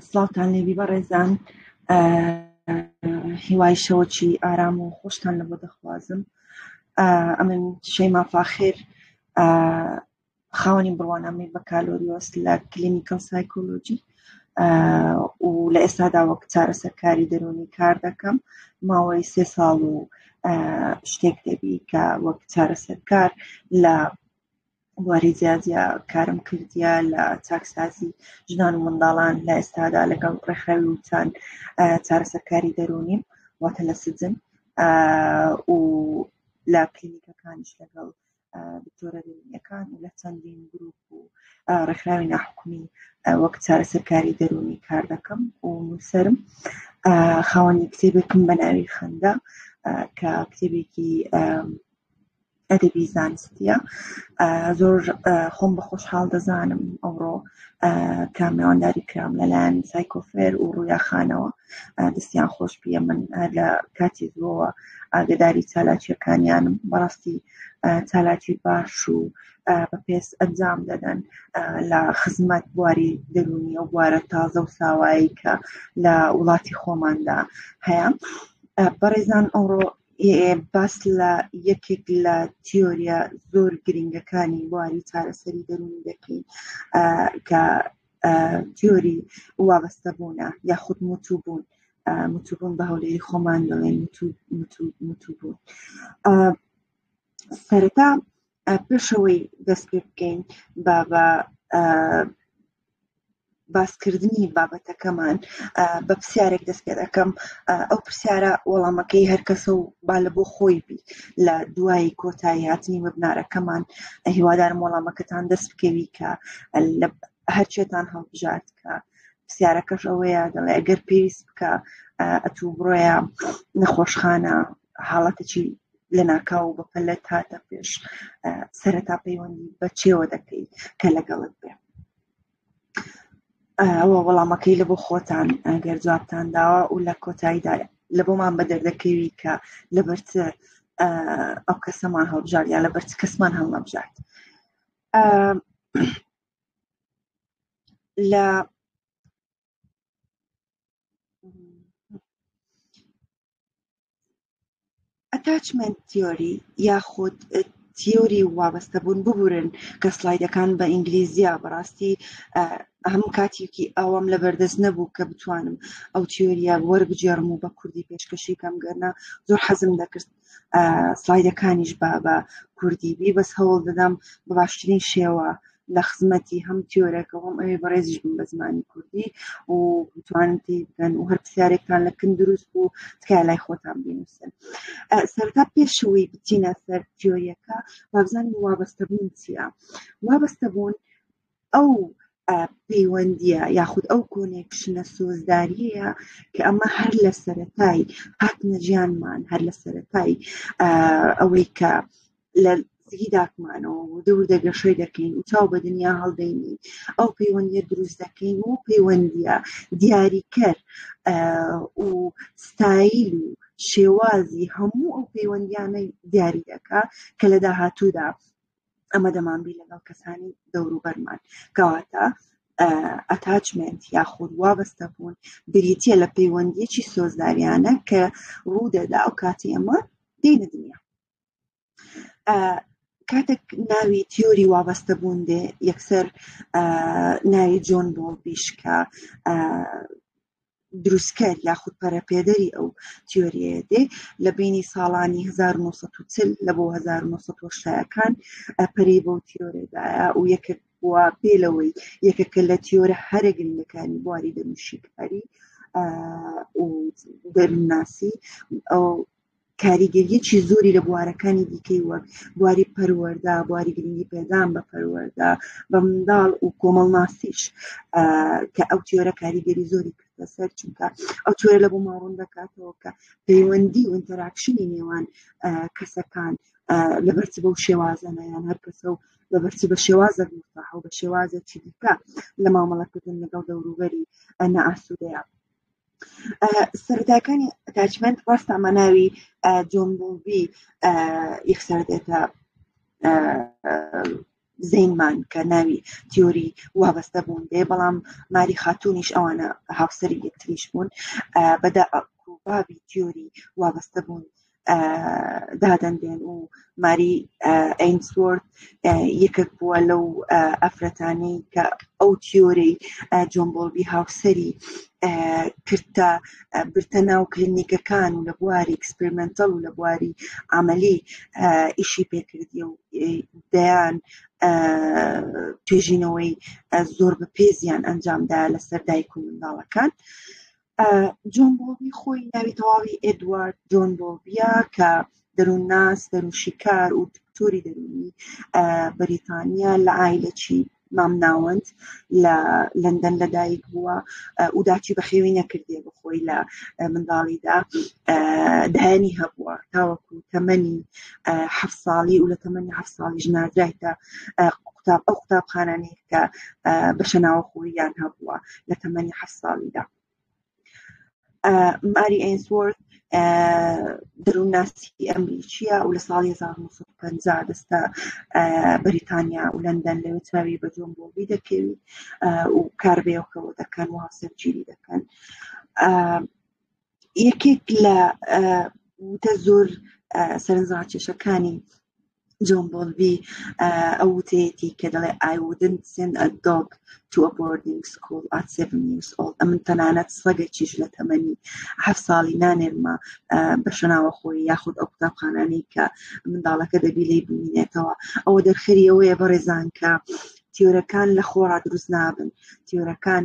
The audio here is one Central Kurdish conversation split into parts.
سڵاوتان لێبی بەڕێزان هیوای شەوەکی ئارام و خۆشتان لە بۆ دەخوازم ئەمن شەیما فاخر خاوەنی بڕوانامەی بەکالۆریۆس لە کلینیکل سایکۆلۆجی و لە ئێستادا وەک چارەسەرکاری دەرونی کار دەکەم ماوەی سێ ساڵ و شتێک دەبی کە وەک چارەسەرکار لە بواری جیا جیا کارم کردیە لە چاکسازی ژنان و منداڵان لە ئێستادا لەگەڵ ڕێکخراوی وچان چارەسەرکاری دەرونیم واتە لە سجن و لە کلینیکەکانش لەگەڵ دکتۆرە دەرونیەکان و لە چەندین گروپ و ڕێکخراوی ناحکومی وەک چارەسەرکاری دەرونی کار دەکەم و نووسرم خاوەنی کتێبێکم بە ناوی خەندە کە کتێبێکی ئەدەبی زانستیە زۆر خۆم بە خۆشحاڵ دەزانم ئەوڕۆ کە مێوانداری کرام لەلایەن سایکۆفێر و ڕویاخانەوە دەستیان خۆش بیە من لە کاتی زۆوە ئاگداری چالاکیەکانیانم بەڕاستی چالاکی باش و بە پێس ئەنجام دەدەن لە خزمەت بواری دەرونی و بوارە تازە و ساوایی کە لە وڵاتی خۆماندا هەیە بەڕێزان ئەوڕۆ باس لە یەکێک لە تیۆریە زۆر گرنگەکانی بواری چارەسەری دەرونی دەکەین کە تیۆری وابەستە بوونە یاخود موتو بوون متوبوون بە هەولێری خۆمان دەڵێن متوبوون سەرەتا پێشەوەی دەست پێ بکەین بە بە باسکردنی بابەتەکەمان بە پرسیارێک دەست پێ دەکەم ئەو پرسیارە وەڵامەکەی هەرکەسە و با لە بۆ خۆی بی لە دوایی کۆتایی هاتنی وەبنارەکەمان هیوادارم وەڵامەکەتان دەست بکەوی کە هەرچێتان هەڵبژارد کە پرسیارەکەش ئەوەیە دەڵێ گەر پێویست بکە ئەتوو بڕۆیە نەخۆشخانە حاڵەتێکی لەناکاو و بەپەلەت هاتە پێش سەرەتا پەیوەندی بە چێوە دەکەی کە لەگەڵت بێ ئەوە وەڵامەکەی لە بۆ خۆتان ئەگەر جوابتان داوە و لە کۆتاییدا لە بۆمان بە دەردەکەوی کە لە بەرچ ئەو کەسەمان هەڵبژارد یا لە بەرچ کەسمان هەڵنەبژارد لە ئەتاچمنت تیۆری یاخود تیۆری وابەستە بوون ببورن کە سلایدەکان بە ئینگلیزیە بەڕاستی هەم کاتێکی ئەوەم لە بەردەست نەبوو کە بتوانم ئەو تیۆریە وەربگێڕم و بە کوردی پێشکەشی کەم گەرنا زۆر حەزم دەکرد سلایدەکانیش بە بە کوردی بی بەس هەوڵ دەدەم بە باشترین شێوە لە خزمەتی هەم تیۆرەکە هەم ئەوێ بەڕێزیش بم بە زمانی کوردی و بتوانن پێی بگەن و هەر پرسیارێکتان لە کن دروست بوو تکای لای خۆتان بینوسن سەرتا پێشەوەی بچینە سەر تیۆریەکە وابزانین وابەستەبوون چییە وابەستەبوون ئەو پەیوەندیە یاخود ئەو کۆنێکشنە سۆزداریەیە کە ئەمە هەر لە سەتایی هاتنە ژیانمان هەر لە سەتایی ئەوەی کە لە زگی داکمانەوە و دەور دەگەشەی دەکەین و چاو بە دنیا هەڵدەینی ئەو پەیوەندیە دروست دەکەین و پەیوەندیە دیاریکەر و ستایل و شێوازی هەموو ئەو پەیوەندیانە دیاری دەکا کە لە داهاتوودا ئەمە دەمانبی لەگەڵ کەسانی دەوروبەرمان کەواتە ئەتاچمنت یاخود وابەستە بوون بریتە لە پەیوەندیەکی سۆزداریانە کە ڕوودەدا ئەو کاتی ئەمە دینە دنیا کاتێک ناوی تیۆری وابەستە بوون دێ یەکسەر ناوی جۆن بۆڵ بیشکە دروستکەر یاخود پەرەپێدەری ئەو تیۆریەیە دێ لە بینی ساڵانی 1940 لە بۆ 1970ەکان پەری بۆ تیۆرێدایە و یەکێک بووە پێ لەوەی یەکەکە لە تیۆرە هەرە گرنگەکانی بواری دەنوشیکاری و دەرناسی ئەو کاریگەریەکی زۆری لە بوارەکانی دیکەی وەک بواری پەروەەردە بواری گرنگی پێدان بە پەروەەردە بە منداڵ و کۆمەڵناسیش کە ئەو تیۆرە کاریگەری زۆری کردە سەر چونکە ئەو تۆرە لە بۆ ماڕون دەکاتەوە کە پەیوەندی و ئینتەراکشنی نێوان کەسەکان لە بەرچ بەو شێوازەنە یان هەر کەسە و لە بەرچ بە شێوازە مستاح و بە شێوازە چی دیکە لە مامەڵەکردن لەگەڵ دەوروبەری ئەنا ئاسوودەیە سەرتاکانی ئەتاچمنت ڕاستە مەناوی جۆمبوبی یەکسەر دێتە زینمان کە ناوی تیۆری وابەستە بوون دێ بەڵام ماری خاتونیش ئەوانە هاوسەری یەکتریش بوون بەدا کوبابی تیۆری وابەستە بوون دادەنرێن و ماری ئەینسۆرت یەکێک بووە لەو ئەفرەتانەی کە ئەو تیۆرەی جۆمبۆڵبی هاوسری کردتە برتە ناو کلینیکەکان و لە بواری ئەکسپریمنتەڵ و لە بواری عملی ئیشی پێکردی و دەیان توێژینەوەی زۆر بە پێزیان ئەنجامدا لەسەر دایک و منداڵەکان. جۆن بۆڵبی خۆی ناوی تەواوی ئێدوارد جۆن بۆڵبیە کە دەروونناس دەروونشیکار و دکتۆری دەروونی بەریتانیا لە ئایلەچی مامناوەند لە لەندەن لەدایک بووە و داچی بەخێوی نەکردێ بخۆی لە منداڵیدا دایانی هەبووە تاوەکو تەمەنی ه ساڵی و لە تەمەنی ه ساڵی ژنادرایتە قوتاب ئەو قوتابخانانەیە کە بەشە ناوەخۆیان هەبووە لە تەمەنی حە ساڵیدا ماری ئەینسوەرت دەروونناسی ئەمریکیە و لە ساڵی 1950 دەستە بەریتانیا و لەندەن لەوێ چاوی بە جۆن بۆبی دەکەوی و کاربێەوەکەەوە دەکەن و هاوسەرگیری دەکەن یەکێک لە وتە زۆر سەرنجڕاکێشەکانی جۆن بۆلبی ئەو وتەیەتی کە دەڵێ I wouldn't send a dog to a boarding school at seven years old ئەمن تەنانەت سەگەکیش لە تەمەنی هەف ساڵی نانێرمە بە شەناوە خۆی یاخود ئەو قوتابخانانەی کە منداڵەکە دەبی لی بمینێتەوە ئەوە دەرخەری ئەوەیە بەڕێزان کە تیۆرەکان لە خۆڕا دروست نابن تیۆرەکان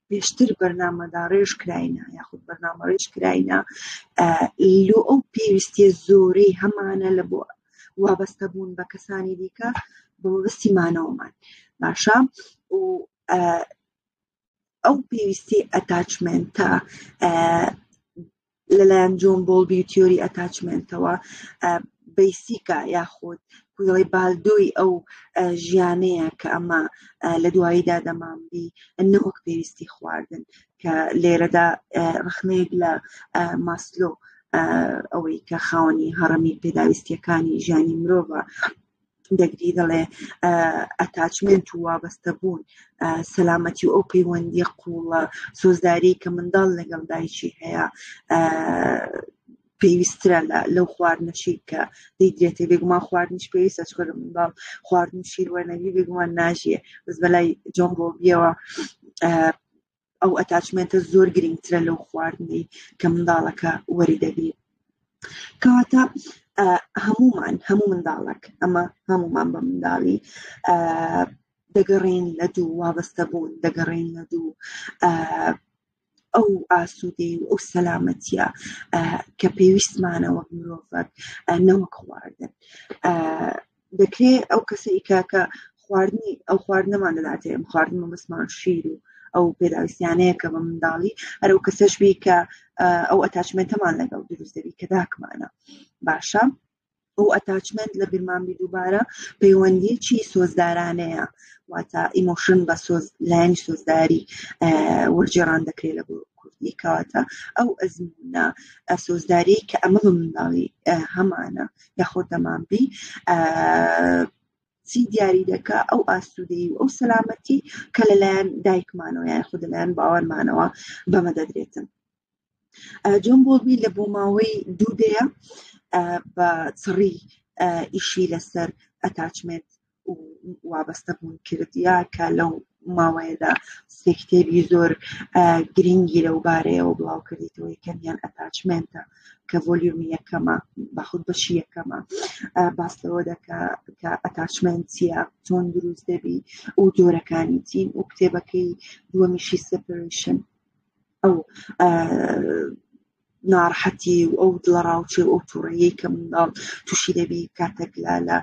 پێشتر بەرنامەداڕێژ کراینە یاخود بەرنامەڕێژ کراینە لۆ ئەو پێویستیە زۆرەی هەمانە لە بۆ وابەستە بوون بە کەسانی دیکە بە مەبەستی مانەوەمان باشە و ئەو پێویستی ئەتاچمنتە لەلایەن جۆن بۆڵبی و تیۆری ئەتاچمێنتەوە بەیسیکە یاخود کوێڵی بالدۆی ئەو ژیانەیە کە ئەمە لە دواییدا دەمانبی نەوەک پێویستی خواردن کە لێرەدا ڕخنەیەک لە ماسلۆ ئەوەی کە خاوەنی هەڕەمی پێداویستیەکانی ژیانی مرۆڤە دەگری دەڵێ ئەتاچمنت و وابەستە بوون سەلامەتی و ئەو پەیوەندی قوڵە سۆزداری کە منداڵ لەگەڵ دایکی هەیە پێویسترە لەو خواردنەشی کە دەیدرێتێ بێگومان خواردنیش پێویستە چکە لە منداڵ خواردن شیر وەرنەوی بێگومان ناژیە بەس بەلای جۆم بۆبیەوە ئەو ئەتاچمێنتە زۆر گرنگترە لەو خواردنەی کە منداڵەکە وەری دەگرێت کەواتە هەمومان هەموو منداڵک ئەمە هەمومان بە منداڵی دەگەڕین لە دوو وابەستە بوون دەگەڕین لە دوو ئەو ئاسوودەی و ئەو سەلامەتە کە پێویستمانە وەک مرۆڤک نەوەک خواردن دەکرێ ئەو کەسەی کە کە خواردنی ئەو خواردنەمان دەداتێ ئەم خواردن مەمەسمان شیر و ئەو پێداویستیانەیە کە بە منداڵی هەرو کەسەش بی کە ئەو ئەتاچمنتەمان لەگەڵ دروست دەبی کە داکمانە باشە ئەو ئەتاچمنت لە بیرمانبی دووبارە پەیوەندیەکی سۆزدارانەیە واتە ئیمۆشن بە سۆز لایەنی سۆزداری وەرجێڕان دەکرێت لە کوردی کەواتە ئەو ئەزمونە سۆزداری کە ئەمە بە منداڵی هەمانە یاخۆ دەمانبی چی دیاری دەکا ئەو ئاسوودەی و ئەو سەلامەتی کە لەلایەن دایکمانەوە یان خود لەلایەن باوەرمانەوە بەمە دەدرێتن جۆن بۆڵبی لە بۆ ماوەی دوو دەیە بە چڕی ئیشی لەسەر ئەتاچمنت وابەستە بوون کردیا کە لەو ماوەیەدا سێ کتێبی زۆر گرنگی لەو بارەیەوە بڵاو کردیتەوە یەکەمیان ئەتاچمنتە کە ڤۆلیومی یەکەمە بەخود بەشی یەکەمە باس لەوە دەکا کە ئەتاچمنت چیە چۆن دروست دەبی و جۆرەکانی چین و کتێبەکەی دووەمیشی سپریشن ئەو ناڕەحەتی و ئەو دڵەڕاوچێ و ئەو تووڕەیەی کە منداڵ تووشی دەبی کاتێک لە لە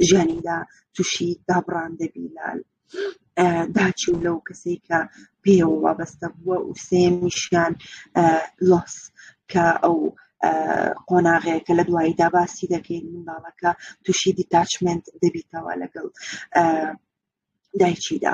ژیانیدا تووشی دابڕان دەبی لە داچی و لەو کەسێک کە پێوە وابەستە بووە و سێمیشیان لۆس کە ئەو قۆناغەیە کە لە دوایی داباسی دەکەین منداڵەکە تووشی دیتاچمنت دەبیتەوە لەگەڵ دایکیدا.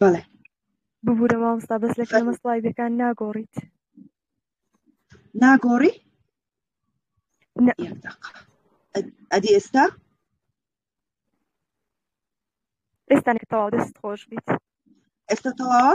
بەڵێ ببوورە مامۆستا بەس لە کەمە سڵایدەکان ناگۆڕیت ناگۆڕی ئەدی ئێستا ئێستانێک تەواو دەست خۆش بیت ئێستا تەواوە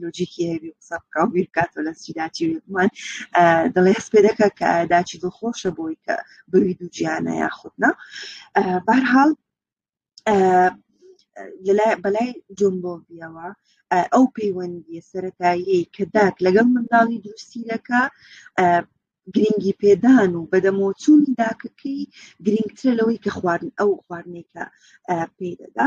لۆجیکی هەبی قسە بکە و بیر بکاتەوە لە چی داچی وێکمان دڵێ هەست پێ دەکە کە داچی دڵ خۆشە بۆی کە بەوی دوو گیانە یاخودنا بارحاڵ بەلای جۆن بۆڤیەوە ئەو پەیوەندیە سەتایی کە داک لەگەڵ منداڵی دروستی دەکە گرنگی پێدان و بەدەمۆچوونی داکەکەی گرنگترە لەوەی کە خواردن ئەو خواردنێکە پێدەدا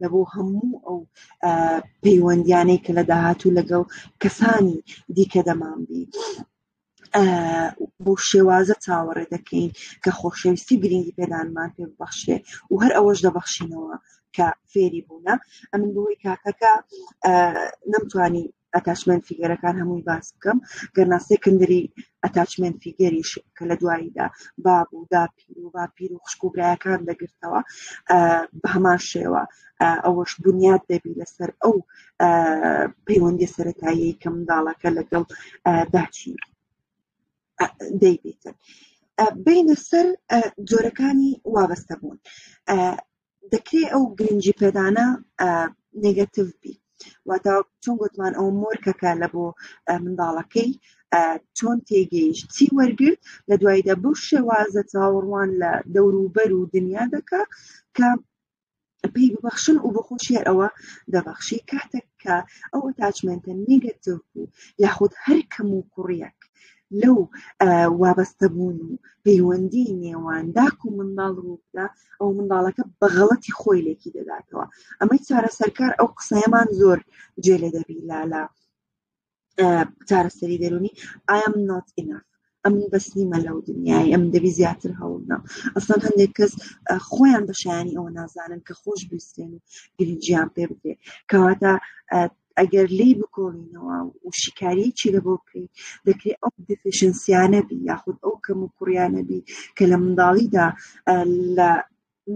لە بۆ هەموو ئەو پەیوەندیانەی کە لە داهاتوو لەگەڵ کەسانی دیکە دەمان بی بۆ شێوازە چاوەڕێ دەکەین کە خۆشەویستی گرنگی پێدانمان پێ ببەخشێ و هەر ئەوەش دەبەخشینەوە کە فێری بوونە ئەمن بۆی کاکەکە نەمتوانی ئەتاچمێنت فیگەرەکان هەمووی باس بکەم گەرنا سێکندری ئەتاچمێنت فیگەریش کە لە دواییدا باب و داپیر و باپیر و خوشک و برایەکان دەگرتەوە بە هەمان شێوە ئەوەش بنیاد دەبی لەسەر ئەو پەیوەندی سەتایی کە منداڵەکە لەگەڵ داچی دەیبێتن بینە سەر جۆرەکانی وابەستە بوون دەکرێت ئەو گرنگی پێدانە نگەتیو بی واتە چۆن گوتمان ئەو مۆرکەکە لە بۆ منداڵەکەی چۆن تێگەیشت چی وەرگرت لە دوایدا بەو شێوازە چاوەڕوان لە دەوروبەر و دنیا دەکا کە پێی ببەخشن و بە خۆشیار ئەوە دەبەخشی کاتێک کە ئەو تاچمنتە نیگەتیو بوو یاخود هەر کەم و کوڕیەک لەو وابەستەبوون و پەیوەندی نێوان داک و منداڵ ڕوودا ئەو منداڵەکە بەغڵەتی خۆی لێکی دەداتەوە ئەمەی چارە سەرکار ئەو قسەیەمان زۆر جێ لێ دەبی لا لە چارەسەری دەرونی ئایم نات ئیناف ئەم بەس نیمە لەو دنیای ئەم دەبی زیاتر هەوڵنا ئەسان هەندێک کەس خۆیان بەشیانی ئەوە نازانن کە خۆش بستێن و گرنجیان پێ بکرێت کەواتە ئەگەر لێی بکۆڵینەوە و شیکاریەکی لە بۆ بکەین دەکرێت ئەو دفشنسیانە بی یاخود ئەو کەم و کوڕیانە بی کە لە منداڵیدا لە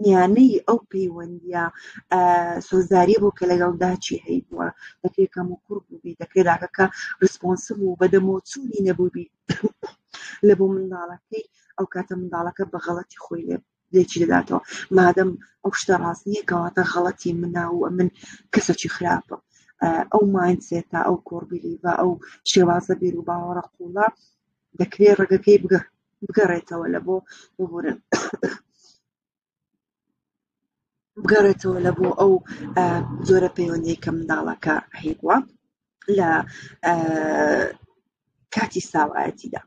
میانەی ئەو پەیوەندیە سۆزداریە بۆ کە لەگەڵ داچی هەی بووە دەکرێت کەم و کوڕ بووبی دەکرێت داکەکە ڕسپۆنسب و بەدەمۆچوونی نەبووبی لە بۆ منداڵەکەی ئەو کاتە منداڵەکە بە غەڵەتی خۆی لێ لێکی دەداتەوە مادەم ئەو شتە ڕاست نییە کەواتە غەڵەتی منا و من کەسەکی خراپە ئەو ماینسێتا ئەو کۆربیلی و ئەو شێوازە بیر و باوەڕە قوڵە دەکرێت ڕێگەکەی بگە بگەڕێتەوە لە بۆ ببورن بگەڕێتەوە لە بۆ ئەو جۆرە پەیوەندی کە منداڵەکە هەیبووە لە کاتی ساوایەتیدا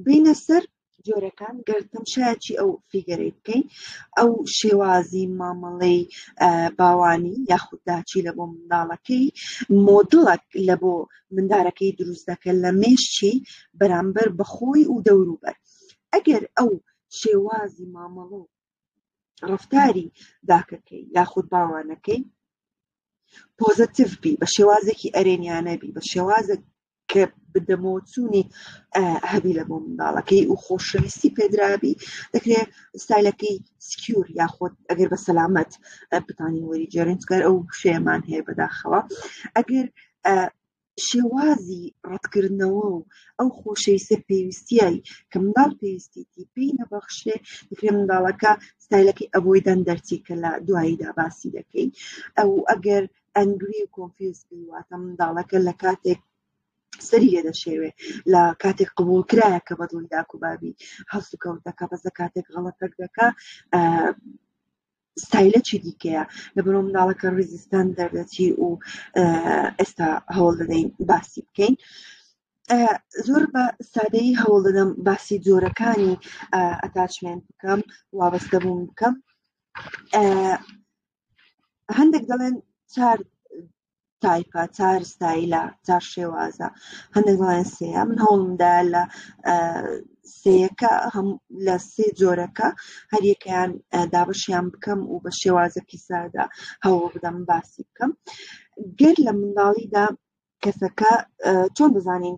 بینە سەر جۆرەکان گەر تەمشایەکی ئەو فیگەرەی بکەین ئەو شێوازی مامەڵەی باوانی یاخود داچی لە بۆ منداڵەکەی مۆدڵک لە بۆ مندارەکەی دروست دەکە لە مێشتی بەرامبەر بەخۆی و دەوروبەر ئەگەر ئەو شێوازی مامەڵە و ڕفتاری داکەکەی یاخود باوانەکەی پۆزەتیڤ بی بە شێوازێکی ئەرێنیانە بی بە شێوازە کە بدەمۆچوونی هەبی لە بۆ منداڵەکەی و خۆشەویستی پێدرابی دەکرێت ستایلەکەی سکیور یاخۆت ئەگەر بە سەلامەت بتانی وەری جێرنجگەر ئەو شێمان هەیە بەداخەوە ئەگەر شێوازی ڕەتکردنەوە و ئەو خۆشەی سەر پێویستیایی کە منداڵ پێویستیتی پێی نەبەخشێ دەکرێ منداڵەکە ستایلەکەی ئەبۆی دەن دەرچی کە لە دواییدا باسی دەکەین ئەو ئەگەر ئەنگری و کۆنفیز بیواتە منداڵەکە لە کاتێک سەری لێ دەشێوێ لە کاتێک قبول کرایە کە بەدڵی داکوبابی هەڵسوکەوت دەکە بەسە کاتێک غەڵەتەک دەکە ستایلە چی دیکەیە لە بەرۆ مناڵەکە ریزیستان دەردەچی و ئێستا هەوڵ دەدەین باسی بکەین. زۆر بە سادەی هەوڵ دەدەم باسی جۆرەکانی ئەتاچمێن بکەم وابەستە بووم بکەم هەندێک دەڵێن چار تایپە تار ستایلە تا شێوازە هەندێک دەڵێن سەیە من هەوڵمدا لە سەیەکە هەم لە سێ جۆرەکە هەریەکەیان دابشیان بکەم و بە شێوازەکی سادا هەوڵ بدەم باسی بکەم گەر لە منداڵیدا کەسەکە چۆن بزانین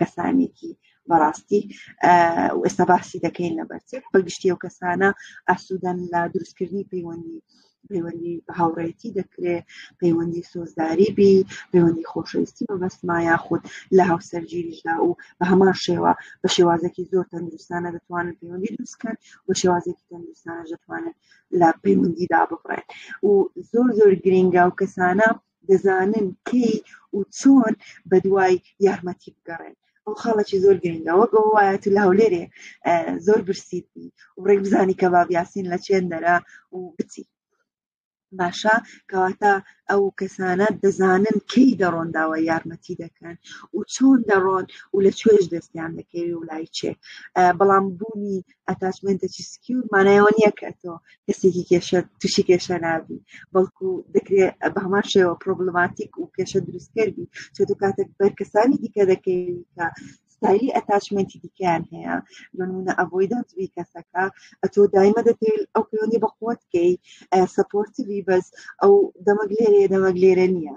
کەسانێکی بەڕاستی ئێستا باسی دەکەین لە بەرچێت بەگشتی و کەسانە ئاسوودەن لە دروستکردنی پەیوەندی پەیوەندی هاوڕێتی دەکرێت پەیوەندی سۆزداری بی پەیوەندی خۆشەویستی مەبەستما یاخود لە هاوسەرگیریشدا و بە هەمان شێوە بە شێوازێکی زۆر تەندروستانە دەتوانن پەیوەندی دروستکەن و شێوازێکی تەندروستانە دەتوانن لە پەیوەندیدا ببڕێن و زۆر زۆر گرنگە و کەسانە دەزانن کەی و چۆن بە دوای یارمەتی بگەڕێن ئەو خاڵێکی زۆر گرنگە وەک ئەو وایە تو لە هەولێرێ زۆر برسیت بی و ڕێک بزانی کە بابیاسین لە چێن دەرا و بچی باشە کەواتە ئەو کەسانە دەزانن کەی دەڕۆن داوە یارمەتی دەکەن و چۆن دەڕۆن و لە کوێش دەستیان دەکەوێت و لای چێ بەڵام بوونی ئەتاشمێنتێکی سکیور مانای ئەوە نییە کە تۆ کەسێکی کێشە تووشی کێشە نابی بەڵکو دەکرێت بە هەمان شێوە پرۆبلماتیک و کێشە دروستکەر بی چۆ تو کاتێک بەر کەسانی دیکە دەکەی کە ستایلی ئەتاشمێنتی دیکەیان هەیە بەنمونە ئەبۆی دەنجبی کەسەکە ئەتۆ دایمە دەتەوێت ئەو پەیوەندی بەخۆت کەی سپۆرتیوی بەس ئەو دەمەک لێرەیە دەمەک لێرە نییە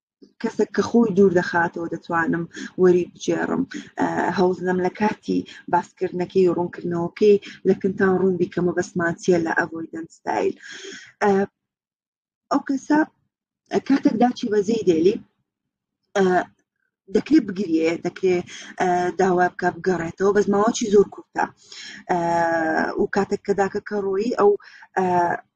کەسێک کە خۆی دوور دەخاتەوە دەتوانم وەری بجێڕم هەوزنم لە کاتی باسکردنەکەی و ڕوونکردنەوەکەی لە کنتان ڕوون بیکەمە بەسمانچیە لە ئەڤۆیدن ستایل ئەو کەسە کاتێک داچی بەزەی دێلی دەکرێت بگرێ دەکرێت داوا بکە بگەڕێتەوە بەس ماوەچی زۆر کورتە و کاتێک کە داکە کە ڕۆیی ئەو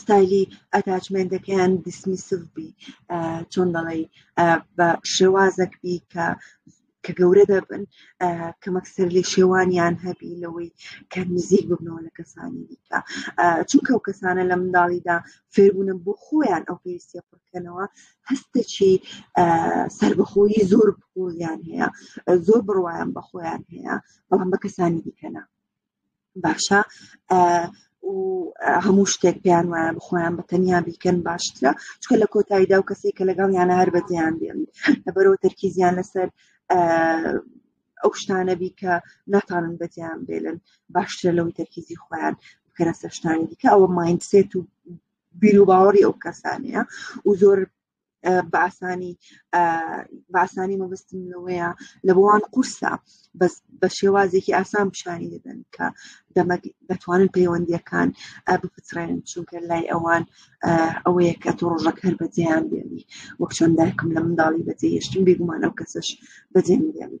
ستایلی ئەتاچمێنتەکەیان دیسمیسڤ بی چۆن دەڵی بە شێوازەک بی کە کە گەورە دەبن کەمەکسەر لێ شێوانیان هەبی لەوەی کە نزیک ببنەوە لە کەسانی دیکە چونکە ئەو کەسانە لە منداڵیدا فێربوونە بۆ خۆیان ئەو پێویستە پڕکەنەوە هەستێکی سربەخۆیی زۆر بۆیان هەیە زۆر بڕواان بە خۆیان هەیە بەڵام بە کەسانی دیکەنا باشە و هەموو شتێک پێیان وایە بخۆیان بە تەنیا بیکەن باشترە چکە لە کۆتاییدا و کەسی کە لەگەڵ یانە هەر بەدیان بێن لەبەرەوە تەرکیزیان لەسەر ئەو شتانە بی کە ناتانن بەدیان بێلن باشترە لەوەی تەرکیزی خۆیان بکەرە سەشتانی دیکە ئەوە مایندسێت و بیر و باوەڕی ئەو کەسانەیە و زۆر باسانی باسانی مەبستم لەوەیە لە بۆوان قورسە بەس بە شێوازێکی ئاسان پیشانی دەدەن کە دەمەک دەتوانن پەیوەندیەکان بپچڕێن چونکە لای ئەوان ئەوەیە کە تۆ ڕۆژەک هەر بەجێیان بێنی وەک چۆن دایکم لە منداڵی بەجێ هێشتن بێگومان ئەو کەسش بەجێ بێنی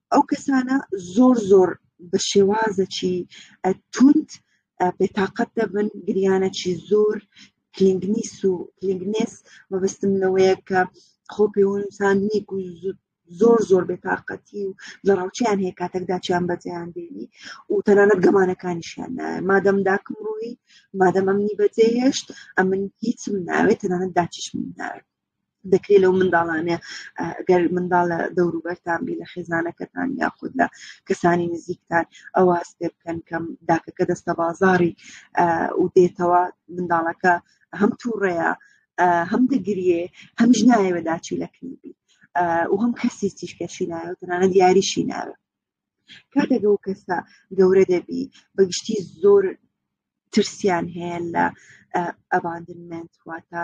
ئەو کەسانە زۆر زۆر بە شێوازەکی توند بێتاقەت دەبن گریانەکی زۆر کلنگنیس و کلنگنێس مەبستم لەوەیە کە خۆ پێوەنووسان نیک و زۆر زۆر بێتاقەتی و لە ڕاوچیان هەیە کاتێکداچیان بەجیان دێنی و تەنانەت گەمانەکانیشیان نایە مادەم داکم ڕووی مادەم ئەمنی بەجێهێشت ئەمن هیچم ناوێت تەنانەت داچشم ناوێت دەکرێت لەو منداڵانێ گەر منداڵ لە دەوروبەرتان بی لە خێزانەکەتان یاخود لە کەسانی نزیکتان ئەوە هەستێ بکەن کەم داکەکە دەستە بازاری و دێتەوە منداڵەکە هەم تووڕەیە هەم دەگریێ هەمش نایەوە داچی لە کلیبی و هەم کەسی تیشکەشی نایە تەنانەت یاریشی ناوێت کاتێک ئەو کەسە گەورە دەبی بەگشتی زۆر ترسیان هەیە لە ئەباندنمنت واتە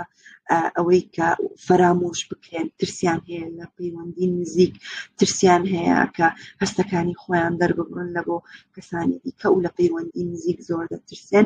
ئەوەی کە فەرامۆش بکرێن ترسیان هەیە لە پەیوەندی نزیک ترسیان هەیە کە هەستەکانی خۆیان دەرببڕن لە بۆ کەسانی دیکە و لە پەیوەندی نزیک زۆر دەترسێن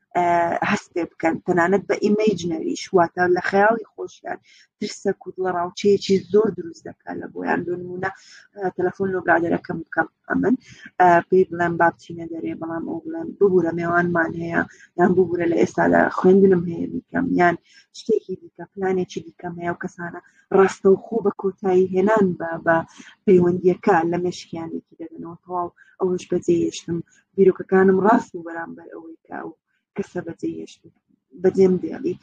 هەست پێ بکەن تەنانەت بە ئیمەیج نەویش واتە لە خەیاڵی خۆشیان ترسە کورد لە ڕاوچەیەکی زۆر دروست دەکات لە بۆیان بنمونە تەلەفۆن لۆ برادەرەکەم بکەم ئەمن پێی بڵێم بابچینە دەرێ بەڵام ئەو بڵێم ببوورە مێوانمان هەیە یان ببوورە لە ئێستا لە خوێندنم هەیە بیکەم یان شتێکی دیکە پلانێکی دیکەم هەیە و کەسانە ڕاستە و خۆ بە کۆتایی هێنان بە بە پەیوەندیەکە لە مشکیانێکی دەدەنەوە تەواو ئەوش بەجێ یشتم بیرۆکەکانم ڕاست بوو بەرامبەر ئەوەی کە ئەو کەسە بەجێهێشت بەجێم دێڵی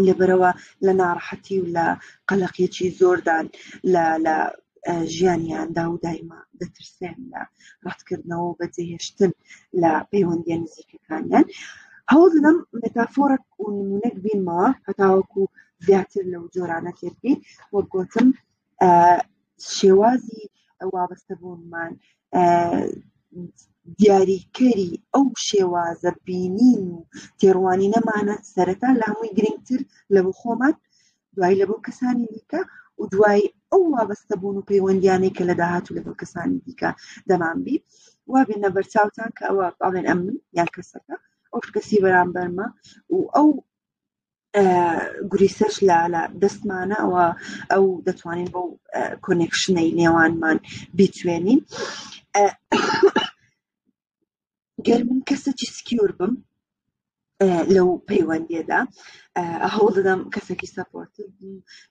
لەبەرەوە لە ناڕەحەتی و لە قەلەقێکی زۆردان لە لە ژیانیاندا و دایما دەترسێن لە ڕەتکردنەوە و بەجێهێشتن لە پەیوەندیە نزیکەکانیان هەوڵ دەدەم مێتافۆرەک و نمونەک بینمەوە هەتاوەکو زیاتر لەو جۆرانە تێبگەین وەک گوتم شێوازی وابەستەبوونمان دیاریکەری ئەو شێوازە بینین و تێڕوانی نەمانە سەرەتا لە هەمووی گرنگتر لە بۆ خۆمان دوای لە بۆ کەسانی دیکە و دوای ئەو وابەستە بوون و پەیوەندیانەی کە لە داهات و لە بۆ کەسانی دیکە دەمان بی وابێنە بەرچاوتان کە ئەوە باڵێن ئەمن یان کەسەکە ئەو شکەسی بەرامبەرمە و ئەو گریسەش لە لە دەستمانە ئەوە ئەو دەتوانین بۆ کۆنێکشنەی نێوانمان بیتوێنین گەر من کەسێکی سکیور بم لەو پەیوەندیەدا هەوڵ دەدەم کەسێکی سەپۆرت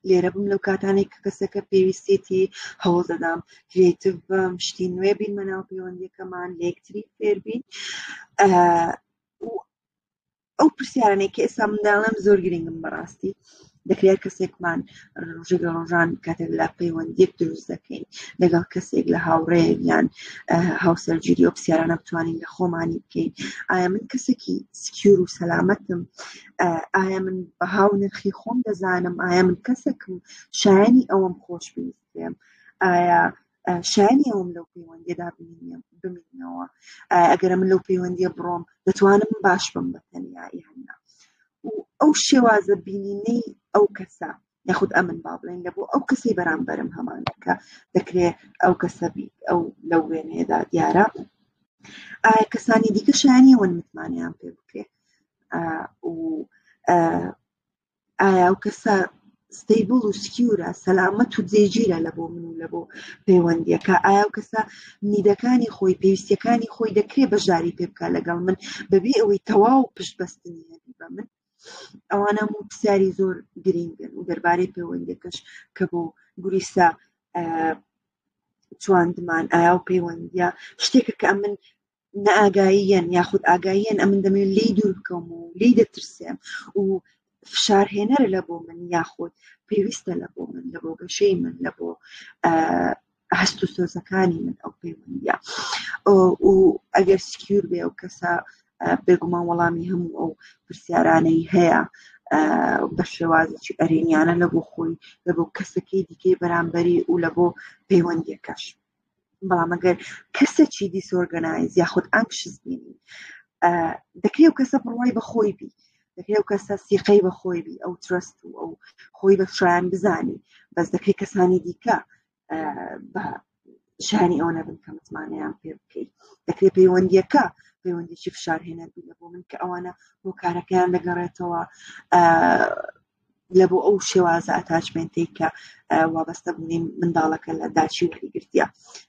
لێرە بم لەو کاتانێک کە کەسەکە پێویستێتی هەوڵ دەدام کرێتیو بم شتی نوێ بین مەناو پەیوەندیەکەمان لەکتری فێربین ئەو پرسیارانەی کە ئێستا منداڵم زۆر گرنگم بەڕاستی دەکرێت کەسێکمان ڕژێک لە ڕۆژان کاتێک لە پەیوەندیەک دروست دەکەین لەگەڵ کەسێک لە هاوڕێک یان هاوسەرگیری و پرسیارانە بتوانین لە خۆمانی بکەین ئایا من کەسێکی سکیور و سەلامەتم ئایا من بەهاو نرخی خۆم دەزانم ئایا من کەسێکم شایانی ئەوەم خۆش بویستێم ئایا شایانی ئەوم لەو پەیوەندیدا بمینەوە ئەگەرە من لەو پەیوەندیە بڕۆم دەتوانم باش بم بە تەنیایی هەنا ئەو شێوازە بینینەی ئەو کەسە یاخود ئەمن با بڵێن لە بۆ ئەو کەسی بەرامبەرم هەمانەکە دەکرێت ئەو کەسەبی ئەو لەو وێنەیەدا دیارە ئایا کەسانی دیکە شایانی وەن متمانیان پێ بکرێت و ئایا ئەو کەسە ستەیبڵ و سکیورە سەلامەت و جێگیرە لە بۆ من و لە بۆ پەیوەندیەکە ئایا و کەسە نیدەکانی خۆی پێویستیەکانی خۆی دەکرێ بەشداری پێ بکە لەگەڵ من بەبێ ئەوەی تەواو پشت بەستنی هەبی بە من ئەوانە و پرسیاری زۆر گرینگن و دەربارەی پەیوەندەکەش کە بۆ گوریسا چواندمان ئایا و پەیوەندە شتێکە کە من نەئاگاییەن یاخود ئاگاییەن ئەمن دەمێن لی دوور بکەم و لی دەترسێم و فشارهێنەرە لە بۆ من یاخود پێویستە لە بۆ من لە بۆ گەشەی من لە بۆ هەست و سۆزەکانی من ئەو پەیوەندە و ئەگەر سکیور بێ و کەسە بێگومان وەڵامی هەموو ئەو پرسیارانەی هەیە بە شێوازێکی ئەرێنیانە لە بۆ خۆی لە بۆ کەسەکەی دیکەی بەرامبەری و لە بۆ پەیوەندیەکەش بەڵام ئەگەر کەسێکی دیسۆرگەنایز یاخود ئەنکشس بینی دەکرێت و کەسە بڕوای بەخۆی بی دەکرێت و کەسە سیقەی بەخۆی بی ئەو ترست و ئەو خۆی بە شایان بزانی بەس دەکرێت کەسانی دیکە بە شانی ئەو نەبن کە متمانەیان پێ بکەیت دەکرێت پەیوەندیەکە پەیوەندیی فشارهێنەر بینە بۆ من کە ئەوانە هۆکارەکەیان دەگەڕێتەوە لە بۆ ئەو شێوازە ئەتاچمنتەی کە وابەستە بوونی منداڵەکە لە داچی وری گرتیە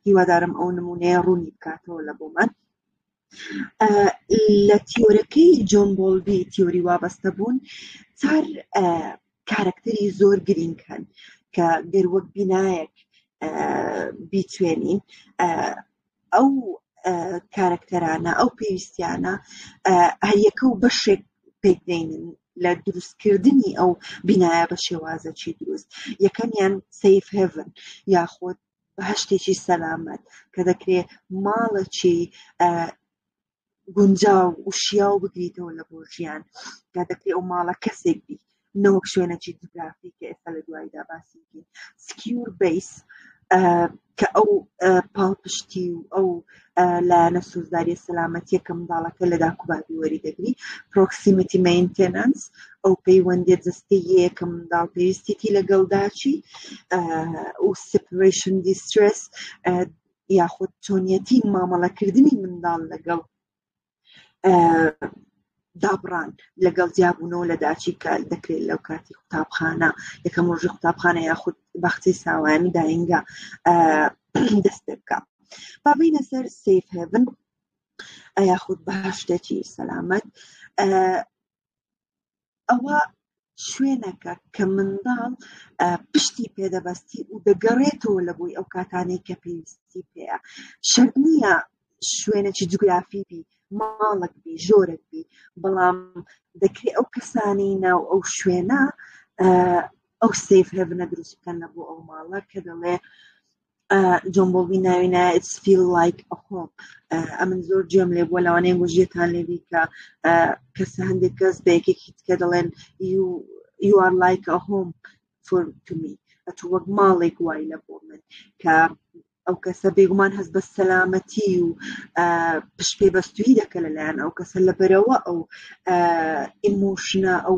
هیوادارم ئەو نمونەیە ڕوونی بکاتەوە لە بۆمان لە تیۆرەکەی جۆن بۆلبی تیۆری وابەستە بوون چار کارکتەری زۆر گرینگ هەن کە گەروەک بینایەک بیتوێنین ئەو کارەکتەرانە ئەو پێویستیانە هەریەکە و بەشێک پێکدێنن لە دروستکردنی ئەو بینایە بە شێوازەکی دروست یەکەمیان سیف هێڤن یاخود بەهشتێکی سەلامەت کە دەکرێت ماڵەکی گونجاو و شیاو بگریتەوە لە بۆ ژیان یا دەکری ئەو ماڵە کەسێک بی نەوەک شوێنەکی جوگرافی کە ئێستا لە دوایدا باسی سکیور بیس کە ئەو پاڵپشتی و ئەو لایەنە سوزداری سەلامەتیە کە منداڵەکە لە داکوبابی وەری دەگری پرۆکسیمیتی مینتەنس ئەو پەیوەندی جستەیە کە منداڵ پێویستێتی لەگەڵداچی و سپریشن دیسترس یاخود چۆنیەتی مامەڵەکردنی منداڵ لەگەڵ دابڕان لەگەڵ جیابوونەوە لە داچی کە دەکرێت لەو کاتی قوتابخانە یەکەم ڕۆژی قوتابخانە یاخود بەختی ساوایانی داینگە دەست پێ بکە بابینە سەر سیف هێبن یاخود باشتێکی سەلامەت ئەوە شوێنەکە کە منداڵ پشتی پێدەبەستی و دەگەڕێتەوە لە بۆی ئەو کاتانەی کە پێویستی پێەیە شەر نییە شوێنێکی جوگرافی بی ماڵک بی ژۆرەک بی بەڵام دەکرێت ئەو کەسانی ناو ئەو شوێنە ئەو سیف هێبنە دروست بکەن لە بۆ ئەو ماڵە کە دەڵێ جۆن بۆبی ناوی نایە it's feel like a home ئەمن زۆر جێم لێ بووە لەوانەیە گوژیەتان لێبی کە کەس هەندێک کەس بە یەکێکی تکە دەڵێن you are like a home for to me ئەتو وەک ماڵێک وای لە بۆ من کە ئەو کەسە بێگومان هەست بە سەلامەتی و پشپێ بەستوی دەکە لەلایەن ئەو کەسە لە بەرەوە ئەو ئیمۆشنە ئەو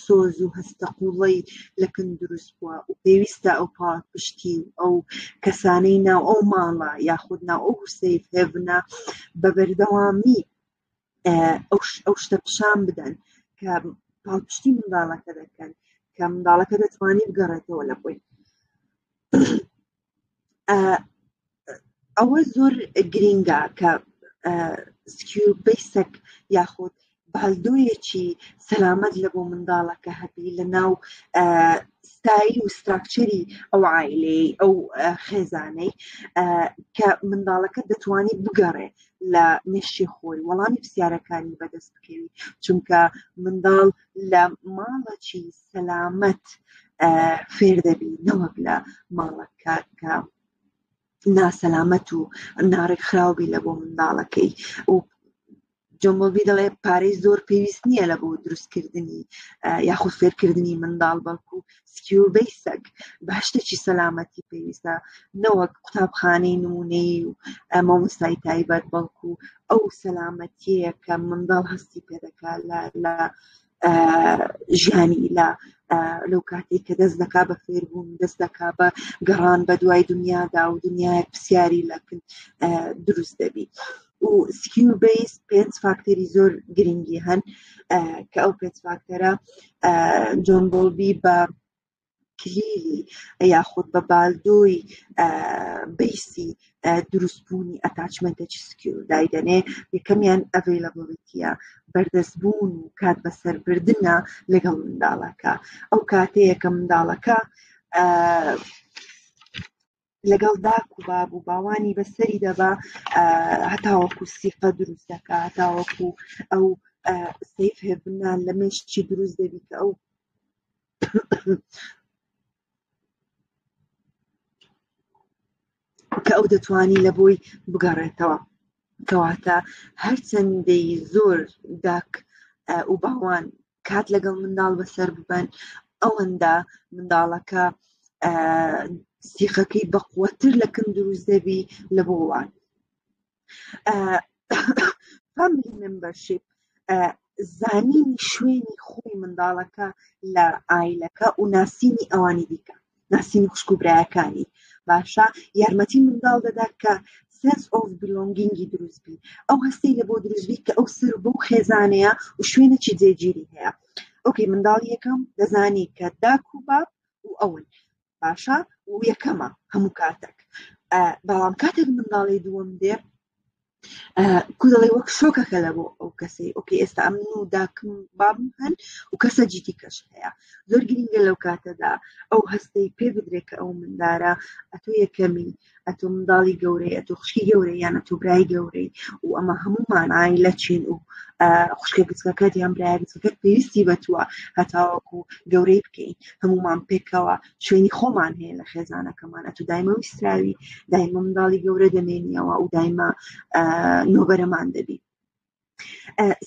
سۆز و هەستە قوڵەی لە کن دروست بووە و پێویستە ئەو پاڵپشتی و ئەو کەسانەی ناو ئەو ماڵە یاخود ناو ئەو هوسەیف هێڤنە بە بەردەوامی ئەو شتە پیشان بدەن کە پاڵپشتی منداڵەکە دەکەن کە منداڵەکە دەتوانانی بگەڕێتەوە لە بووی ئەوە زۆر گرینگە کە سکیور بیسەک یاخود بالدۆیەکی سەلامەت لە بۆ منداڵەکە هەبی لە ناو ستایل و ستراکچەری ئەو عیلەی ئەو خێزانەی کە منداڵەکە دەتوانێت بگەڕێ لە مێشی خۆی وەڵامی پرسیارەکانی بەدەست بکەوی چونکە منداڵ لە ماڵەکی سەلامەت فێر دەبی نەوەک لە ماڵەکە کە ناسەلامەت و ناڕێک خراوبی لە بۆ منداڵەکەی و جۆمۆبی دەڵێ پارەی زۆر پێویست نییە لە بۆ دروستکردنی یاخود فێرکردنی منداڵ بەڵکو سکیوربەی سەگ باشتێکی سەلامەتی پێویستە نەوەک قوتابخانەی نمونەیە و مامۆستای تایبەت بەڵکو ئەو سەلامەتیەیە کە منداڵ هەستی پێ دەکات لە ژیانی لە لەو کاتێک کە دەست دەکا بە فێربوون دەست دەکا بە گەڕان بە دوای دنیادا و دنیای پرسیاری لەکن دروست دەبی و سکیل بیس پێنج فاکتەری زۆر گرنگی هەن کە ئەو پێنج فاکتەرە جۆن بۆڵبی بە کلیلی یاخود بە بالدۆی بیسی دروستبوونی ئەتاچمنتە چسکی و دایدەنێ یەکەمیان ئەڤیلەبڵیتە بەردەستبوون و کات بەسەربردنە لەگەڵ منداڵەکە ئەو کاتەیەکە منداڵەکە لەگەڵ داک و باب و باوانی بەسەری دەبا هەتاوەکو سیقە دروست دەکە هەتاوەکو ئەو سیف هێبنان لە مێشتی دروست دەبیت ئەو کە ئەو دەتوانی لە بۆی بگەڕێتەوە کەواتە هەرچەندەی زۆر داک و باوان کات لەگەڵ منداڵ بەسەر ببەن ئەوەندە منداڵەکە سیخەکەی بەقوەتر لە کەم دروست دەبی لە بۆڵان فاملی ممبەرشیپ زانینی شوێنی خۆی منداڵەکە لە ئایلەکە و ناسینی ئەوانی دیکە ناسینی خوشک و برایەکانی باشە یارمەتی منداڵ دەدا کە سنس ئۆف بلۆنگینگی دروستبی ئەو هەستی لە بۆ دروستبی کە ئەو سەر بۆ خێزانەیە و شوێنێکی جێگیری هەیە ئۆکەی منداڵ یەکەم دەزانی کە داک و باپ و ئەون باشە و یەکەمە هەموو کاتێک بەڵام کاتێک منداڵی دووەم دێ کو دەڵێ وەک شۆکەکە لە بۆ ئەو کەسەی ئۆکی ئێستا ئەم و داکم بام هەن و کەسە جیتی کەش هەیە زۆر گرنگە لەو کاتەدا ئەو هەستەی پێ بدرێت کە ئەو مندارە ئەتۆ یەکەمی ئەتۆ منداڵی گەورەی ئەتۆ خوشکی گەورەی یان ئەتۆ برای گەورەی و ئەمە هەموو مانایی لە چین و خوشکە گچکەکەت یان برای گچەکەت پێویستی بە تووە هەتاوەکو گەورەی بکەین هەمومان پێکەوە شوێنی خۆمان هەیە لە خێزانەکەمان ئەتو دایمە ویستراوی دایمە منداڵی گەورە دەمێنیەوە و دایمە نۆبەرەمان دەبی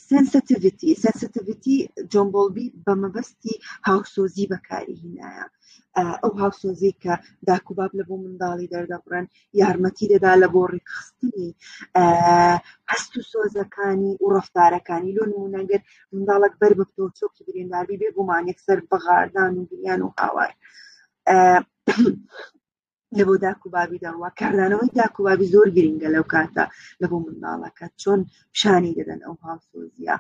سنسیتیڤیتی سنسیتیڤیتی جۆمبۆڵبی بە مەبەستی هاوسۆزی بەکاری هینایە ئەو هاوسۆزی کە داکوباب لە بۆ منداڵی دەردەبڕن یارمەتی دەدا لە بۆ ڕێکخستنی هەست و سۆزەکانی و ڕفتارەکانی لۆ نمونەگەر منداڵک بەر بەپتۆ چۆکی برینداربی بێ گومانێک سەر بەغاردان و گریان و هاوار لە بۆ داک و بابی داوا کاردانەوەی داک و بابی زۆر گرنگە لەو کاتە لە بۆ منداڵەکە چۆن پیشانی دەدەن ئەو هاوسۆزیە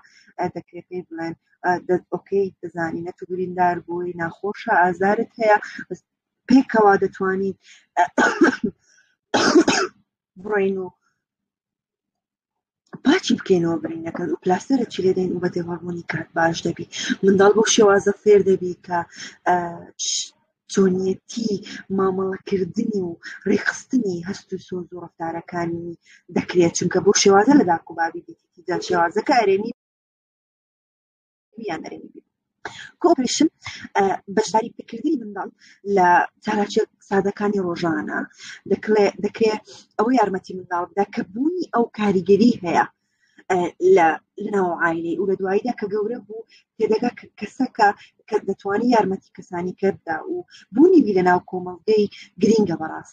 دەکرێت پێی بڵێن ئۆکەی دەزانی نە تبریندار بووی ناخۆشە ئازارت هەیە پێکەوە دەتوانین بڕین و پاچی بکەینەوە برینەکەن و پلاستەرە چی لێدەین و بە دێوەڕبوونی کات باش دەبی منداڵ بۆ شێوازە فێر دەبی کە چۆنیەتی مامەڵەکردنی و ڕێخستنی هەست و سۆز و ڕفتارەکانی دەکرێت چونکە بۆ شێوازە لە داکوبابی دیتی جا شێوازەکە ئەرێنی یا نەرێنی بێت کۆپریشن بەشداری پێکردنی منداڵ لە چالاکیە سادەکانی ڕۆژانە دەکرێت ئەوە یارمەتی منداڵ بدا کە بوونی ئەو کاریگەری هەیە لە لەناو عیلی و لە دواییدا کە گەورە بوو تێدەگا کەسەکە کە دەتوانانی یارمەتی کەسانی کرددا و بوونی بی لەناو کۆمەڵگەی گرینگە بەڕاست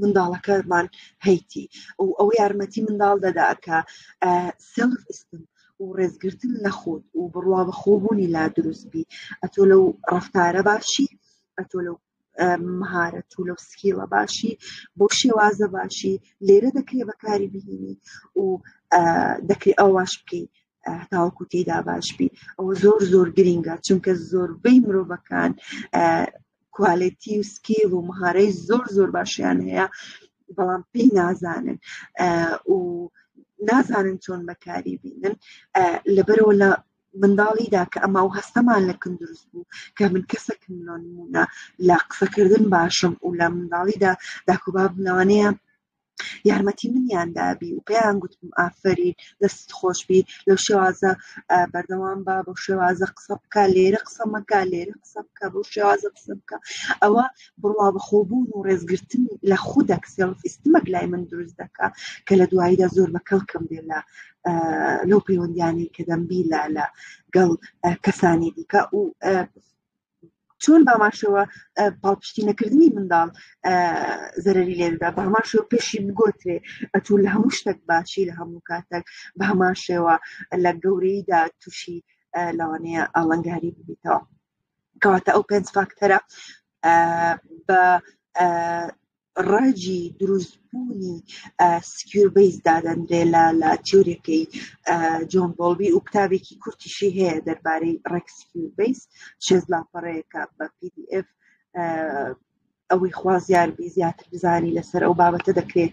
منداڵەکەمان هەیتی و ئەو یارمەتی منداڵ دەدا کە سلف ئستم و ڕێزگرتن لە خۆت و بڕوا بە خۆبوونی لا دروست بی ئەتۆ لەو ڕفتارە باشی ئەتۆ لەو مهارەت و لەو سکیڵە باشی بۆ شێوازە باشی لێرە دەکرێ بەکاری بهینی و دەکرێت ئەوواش بکەیت تاوەکو تێدا باش بی ئەوە زۆر زۆر گرینگە چونکە زۆربەی مرۆڤەکان کوالێتی و سکیل و مهارەی زۆر زۆر باشیان هەیە بەڵام پێی نازانن و نازانن چۆن بەکاری بینن لەبەرەوە لە منداڵیدا کە ئەما و هەستەمان لە کن دروست بوو کە من کەسەکم لۆنمونە لە قسەکردن باشم و لە منداڵیدا داکوباب لەوانەیە یارمەتی منیان دابی و پێیان گوتم ئافرین دەست خۆشببی لەو شێوازە بەردەوام بە بۆ شێوازە قسە بکە لێرە قسەمەکە لێرە قسە بکە بۆ شێوازە قسە بکە ئەوە بڕوا بەخۆبوون و ڕێزگرتن لە خودەک سێڵفیستمەک لای من دروست دەکە کە لە دواییدا زۆر بە کەڵکم بێ لە لەو پەیوەندیانی کە دەمبی لە لە گەڵ کەسانی دیکە و چۆن باماشەوە پاڵپشتی نەکردنی منداڵ زەرری لێدا بە هەمان شێوە پێشی بگۆترێ ئەتو لە هەموو شتێک باشی لە هەموو کاتێک بە هەمان شێوە لە گەورەیدا تووشی لەوانەیە ئاڵنگاری ببیتەوە کەواتە ئەو پێنج فاکتەرە بە ڕاجی دروستبوونی سکیور بیس دادەنرێ لە لە تیورەکەی جۆن بۆڵبی و کتابێکی کورتیشی هەیە دەربارەی ڕێک سکیور بیس شێز لاپەڕەیەەکە بە PDF ئەوەی خوازیاربی زیاتر بزانی لەسەر ئەو بابەتە دەکرێت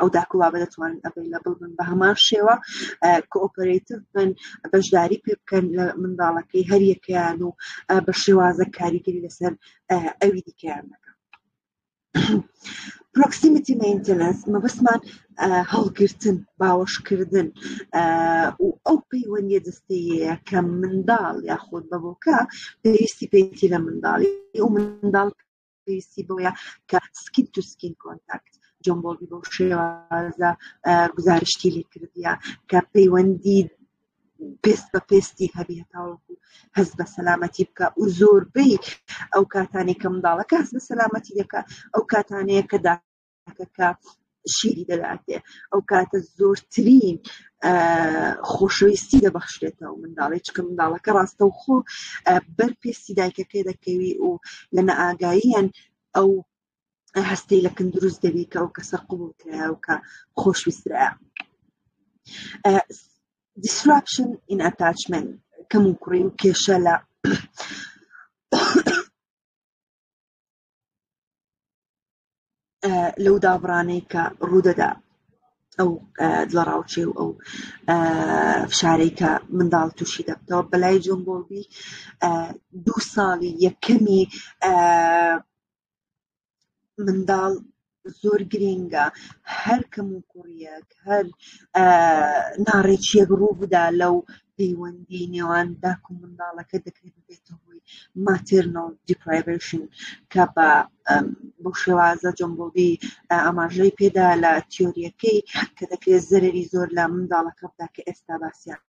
ئەو داکوبابە دەتوانن ئەڤیلەبل بن بە هەمان شێوە کۆپەرەتیو بن بەشداری پێ بکەن لە منداڵەکەی هەریەکەیان و بە شێوازە کاریگەری لەسەر ئەوی دیکەیان دەکەن پرۆکسیمیتی مینتەنس مەبەستمان هەڵگرتن باوەشکردن و ئەو پەیوەندی دەستەیە کە منداڵ یاخود بەبووکە پێویستی پێیتی لە منداڵی و منداڵ پێویستی بۆیە کە سکیت تو سکین کۆنتاکت جۆن بۆڵی بۆ شێوازە گزارشتی لێکردە کە پەیوەندی پێست بە پێستی هەبی هەتاوەکو هەز بە سەلامەتی بکە و زۆربەی ئەو کاتانی کە منداڵەکە هەز بە سەلامەتی دەکە ئەو کاتانەیە کە کە شیری دەداتێ ئەو کاتە زۆرترین خۆشەویستی دەبەخشێتەوە منداڵی چکە منداڵەکە ڕاستە و خۆ بەر پێستی دایکەکەی دەکەوی و لە نەئاگاییان ئەو هەستی لە کن دروست دەبی کە ئەو کەسە قوبول کرا و کە خۆشویسترا دیسراپشن ئین ئەتاچمنت کەم و کوڕی و کێشە لە لەو دابڕانەی کە ڕوودەدا ئەو لە ڕاوچێ و ئەو فشارەی کە منداڵ تووشی دەبتەوە بەلای جۆن بۆڵبی دوو ساڵی یەکەمی منداڵ زۆر گرینگە هەر کەم و کوڕیەک هەر ناڕێکیەک ڕوو بدا لەو پەیوەندی نێوان داکو منداڵەکە دەکرێت بێتە هۆی ماترنۆ دیپرایڤشن کە بە بۆ شێوازە جۆمبۆبی ئاماژەی پێدا لە تیۆریەکەی کە دەکرێت زەرری زۆر لە منداڵەکە بدا کە ئێستا باسییان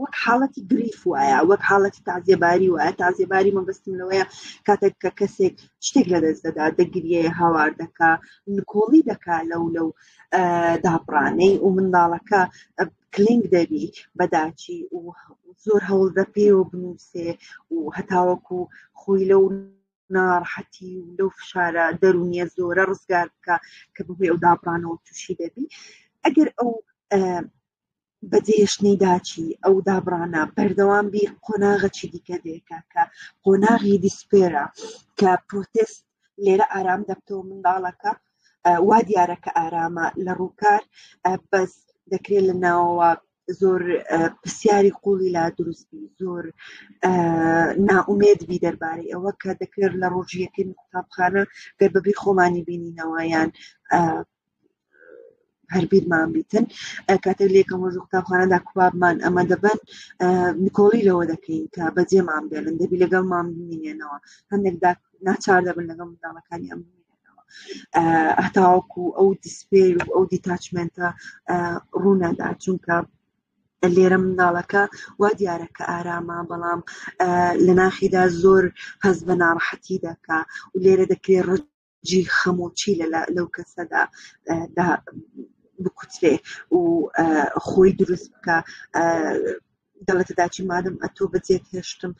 وەک حاڵەتی گریف وایە وەک حاڵەتی تازیێباری وایە تازیێباری مەبستم لەوەیە کاتێک کە کەسێک شتێک لە دەست دەدا دەگریە هاوار دەکا نکۆڵی دەکا لەو لەو دابڕانەی و منداڵەکە کلینگ دەبی بەداچی و زۆر هەوڵ دەپێ و بنووسێ و هەتاوەکو خۆی لەو ناڕحەتی و لەو فشارە دەرونیە زۆرە ڕزگار بکە کە ببێ و دابڕانەوە تووشی دەبی ئەگەر ئەو بە دێشتنی داچی ئەو دابڕانە بەردەوام بیر قۆناغەچی دیکە دێکە کە قۆناغی دیسپێرە کە پرۆتست لێرە ئارام دەبتەوە منداڵەکە وا دیارە کە ئارامە لە ڕووکار بەس دەکرێت لە ناوەوە زۆر پرسیاری قوڵی لا دروستبی زۆر ناومێت بی دەربارەی ئەوە کە دەکرێت لە ڕۆژیەکەی قوتابخانە گەر بەبی خۆمانی بینینەوەیان هەر بیرمان بیتن کاتێک لە یەکەم ڕۆژ قوتابخانەدا کوبابمان ئەمە دەبن نکۆڵی لەوە دەکەین کە بەجێمان بێنن دەبی لەگەڵمان بمینێنەوە هەندێک ناچار دەبن لەگەڵ منداڵەکانی ئەم هەتاوەکو ئەو دیسپێر و ئەو دیتاچمنتە ڕوونەدا چونکە لێرە منداڵەکە وا دیارە کە ئارامە بەڵام لە ناخیدا زۆر هەز بە ناڕەحەتی دەکا و لێرە دەکرێت ڕج جی خەم و چی لەو کەسەدا دا بکوترێ و خۆی دروست بکە دەڵێتە داچی مادەم ئەتۆ بەجێت هێشتم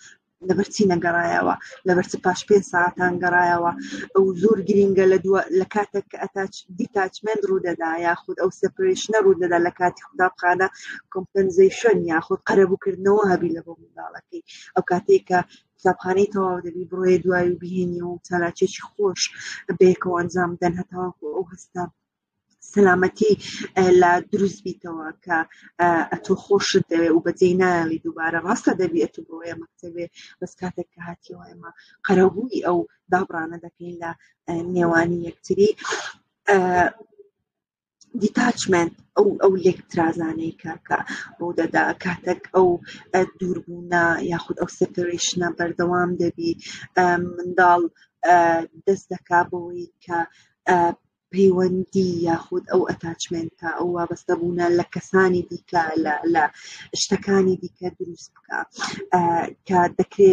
لەبەرچی نەگەڕایەوە لەبەرچ پاش پێ ساعتان گەڕایەوە ئەو زۆر گرینگە لە دووە لە کاتێک کە ئەتاچ دیتاچمنت ڕوودەدا یاخود ئەو سپریشنە ڕوودەدا لە کاتی قوتابخانە کۆمپنزیشن یاخود قەرەبووکردنەوە هەبی لە بۆ منداڵەکەی ئەو کاتێکە قوتابخانەی تەواو دەبی بڕۆیە دوای و بهێنی و چالاکێکی خۆش بەیەکەوە ئەنجام بدەن هەتاوەکو ئەو هەستە سەلامەتی لە دروست بیتەوە کە ئەتۆ خۆشت دەوێ و بەجێ ناوی دووبارە ڕاستە دەبی ئەتو بڕۆیە مەکتەبێ بەس کاتێک کە هاتیەوە ئێمە قەرەبووی ئەو دابڕانە دەکەین لە نێوانی یەکتری دیتاچمنت ئەو ئەو لێکترازانەی کە کە ڕوو دەدا کاتێک ئەو دووربوونە یاخود ئەو سپریشنە بەردەوام دەبی منداڵ دەست دەکا بۆەوەی کە پەیوەندی یاخود ئەو ئەتاچمنتە ئەو وابەستە بوونە لە کەسانی دیکە لە لە شتەکانی دیکە دروست بکە کە دەکرێ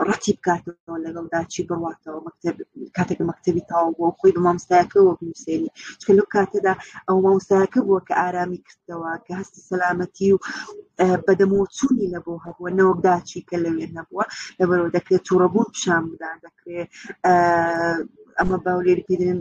ڕەتی بکاتەوە لەگەڵدا چی بڕاتەوە مەکتب کاتێک مەکتتەبی تاو بۆ خۆی بە مامستایەکەەوە بنووسێنی چکە لەو کاتەدا ئەو مامستایەکە بووە کە ئارامی کردەوە کە هەستی سەلامەتی و بەدەمەوە چوونی لە بۆ هەبووە نەوەکداچی کە لەوێ نەبووە لەبەرەوە دەکرێت تووڕەبوون پیشان بدان دەکرێت ئەمە باولێری پێدرێن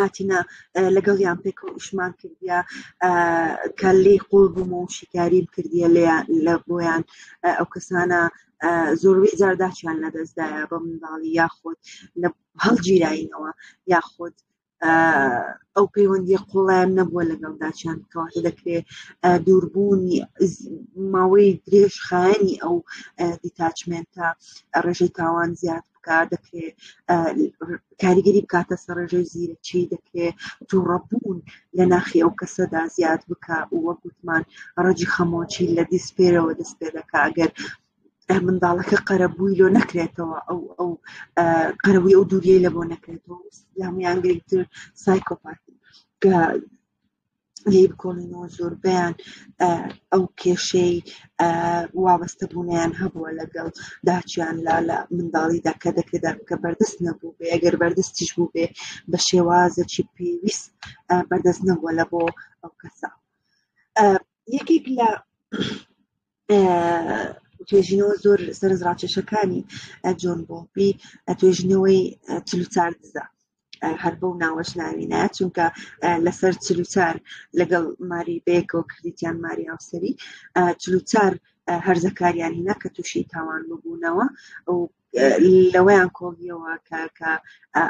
هاتینە لەگەڵیان پێکەوە ئیشمان کردیا کە لی قوڵ بووم و شیکاری بکردە لە بۆیان ئەو کەسانە زۆروی زارداچیان لەدەستدایە بە منداڵی یاخود لە هەڵگیرینەوە یاخود ئەو پەیوەندی قوڵیان نەبووە لەگەڵداچیان کەواتە دەکرێت دووربوونی ماوەی درێژ خایەنی ئەو دیتاچمنتە ڕێژەی تاوان زیاد بکات دەکرێ کاریگەری بکاتە سەرڕێژەی زیرەکی دەکرێ تووڕەبوون لە ناخی ئەو کەسەدا زیاد بکە وە گوتمان ڕەجی خەمۆچی لە دیسپێرەوە دەست پێ دەکە ئەگەر منداڵەکە قەرەبووی لۆ نەکرێتەوە ئەو ئەو قەرەوی ئەو دووریەی لە بۆ نەکرێتەوە یامیان گرنگتر سایکۆپاتی لی بکۆڵینەوە زۆربیان ئەو کێشەی وابەستە بوونیان هەبووە لەگەڵ داچیان لا لە منداڵیدا کە دەکرێت دەکە بەردەست نەبوو بێ ئەگەر بەردەستیش بوو بێ بە شێوازەکی پێویست بەردەست نەبووە لە بۆ ئەو کەسە یەکێک لە توێژینەوە زۆر سەرز ڕاکێشەکانی جۆن بۆپی توێژینەوەی چلوچار دزە هەر بەو ناوەش ناوینە چونکە لەسەر چلوچار لەگەڵ ماری بەیەکەوە کردیتیان ماری هاوسری چلوچار هەرزەکاریان هینا کە تووشی تاوان ببوونەوە و لەوەیان کۆڵیەوە کە کە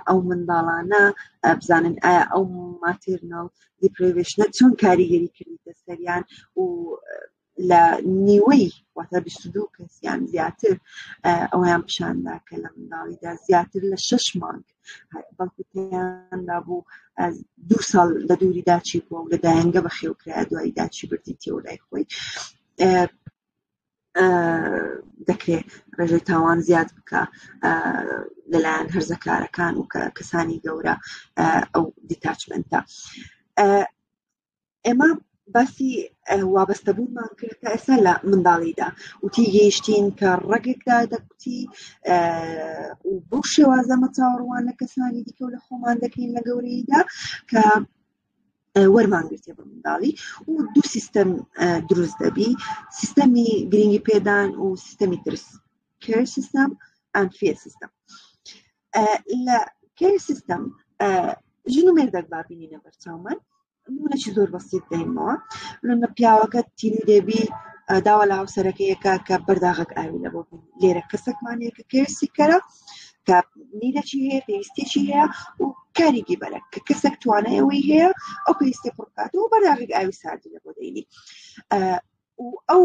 ئەو منداڵانە بزانن ئایا ئەو ماترناڵ دیپریڤشنە چۆن کاریگەری کردیتە سەریان و لە نیوەی واتە بیست و دوو کەس یان زیاتر ئەویان پیشاندا کە لە منداڵیدا زیاتر لە شەش مانگ بەڵکو پێیاندا بوو دوو ساڵ لە دووری داچی بووە و لە دایەنگە بەخێوکرا دوای داچی بردی تێوە لای خۆی دەکرێت ڕێژەی تاوان زیاد بکە لەلایەن هەرزەکارەکان و کە کەسانی گەورە ئەو دیتاچمنتە ئێمە باسی وابەستەبوونمان کرد کە ئێستا لە منداڵیدا وتی گەیشتین کە ڕەگێکدا دەکوتی بۆ شێوازەمە چاوەڕوان لە کەسانی دیکە و لە خۆمان دەکەین لە گەورەیدا کە وەرمانگرێتێ بە منداڵی و دوو سیستەم دروست دەبی سیستەمی گرنگی پێدان و سیستەمی ترس کێر سیستەم ئەفێ سیستەم لە کێر سیستم ژن و مێردەک بابینینە بەرچاومان نمونەی زۆر بەسیت دەینەوە لە پیاوەکە تیری دەبی داوا لە هاوسەرەکەیەکە کە بەرداغک ئاوی لە بۆ لێرە کەسەکمانەیەکە کێسی کەرە کە نیرەی هەیە پێویستێکی هەیە و کاریگی بەرە کە کەسێک توانایەوەی هەیە ئەو پێویستی پڕکات و بەرداغک ئاوی ساردی لە بۆ دەینی و ئەو